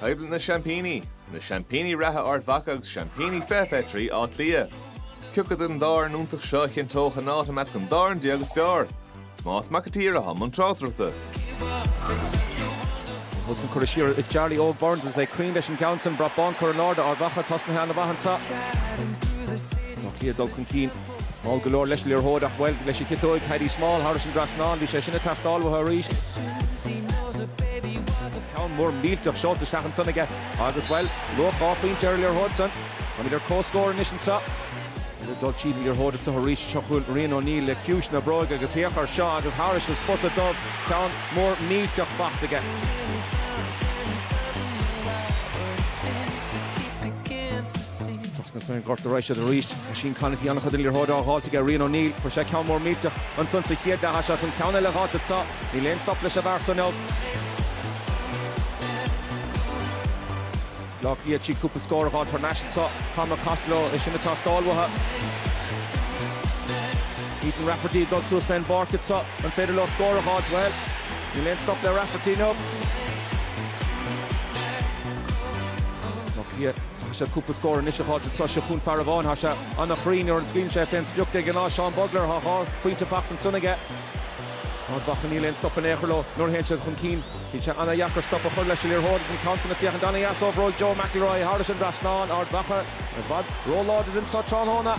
Coimhlint na Seaimpíní, Na Seaimpíní reatha Ard Mhacha agus Seaimpíní Fiche Fiche Trí Átha Cliath. Ciacu den dá fhoireann iontach seo a chinnteodh a n-áit i measc an dáréag is fearr? Tomás Mac a' tSaoir i mbun na tráchtaireachta. Wilson curtha siar ag Jarly Óg Burns cruinn leis an gceann san. Brat bán curtha in airde, Ard Mhacha tosnaithe ana mhaith anseo. Átha Cliath ag dul chun cinn. Mall go leor leis an liathróid ach, bhuel, leis a chiotóig, Paddy Small, thairis an dtrasnáin, bhí sé sin ag teastáil uathu arís. Ceann mór millteach seolta isteach ansan aige agus, bhuel, luach dhá phointe ar an liathróid san. Táimid ar comhscór anois anseo. Ag dul tríd an liathróid anseo arís, seo chugainn Rian O'Neill le ciumhais na bróige agus féach air seo agus thairis an spota dubh, ceann mór millteach faighte aige. Thosnaigh fir an Ghorta Rois siad arís. Oisín Conaty an-chuid den liathróid á fháilt aige, Rian O'Neill, fuair sé ceann mór millteach ansan sa chéad leath, seachain an ceann eile a fháilt anso, níl aon stop leis an bhfear so inniu. Áth Cliath cúpla scór a fháilt thar n-ais anso, Cormac Costello, é sin ag teastáil uathu. Ethan Rafferty ag dul suas fén bpáirc anso, an féidir leo scór a fháilt? Bhuel, níl aon stop le Rafferty inniu. Áth Cliath. Chaith siad cúpla scór anois a fháil anso seo chughainn, fear amháin. Tá sé ana-chruinn nuair a scaoileann sé fén sprioc de ghnáth, Seán Bugler, tá dhá phointe faighte ansan aige. Ard Mhacha níl aon stop in aon chor leo nuair a théann siad chun cinn. Bíonn sé ana-dheacair stop a chur leis an liathróid don cheann san a féachann ana-éasca, Joe McElroy thairis an dtrasnán, Ard Mhacha i bhfad ró-láidir anso tráthnóna.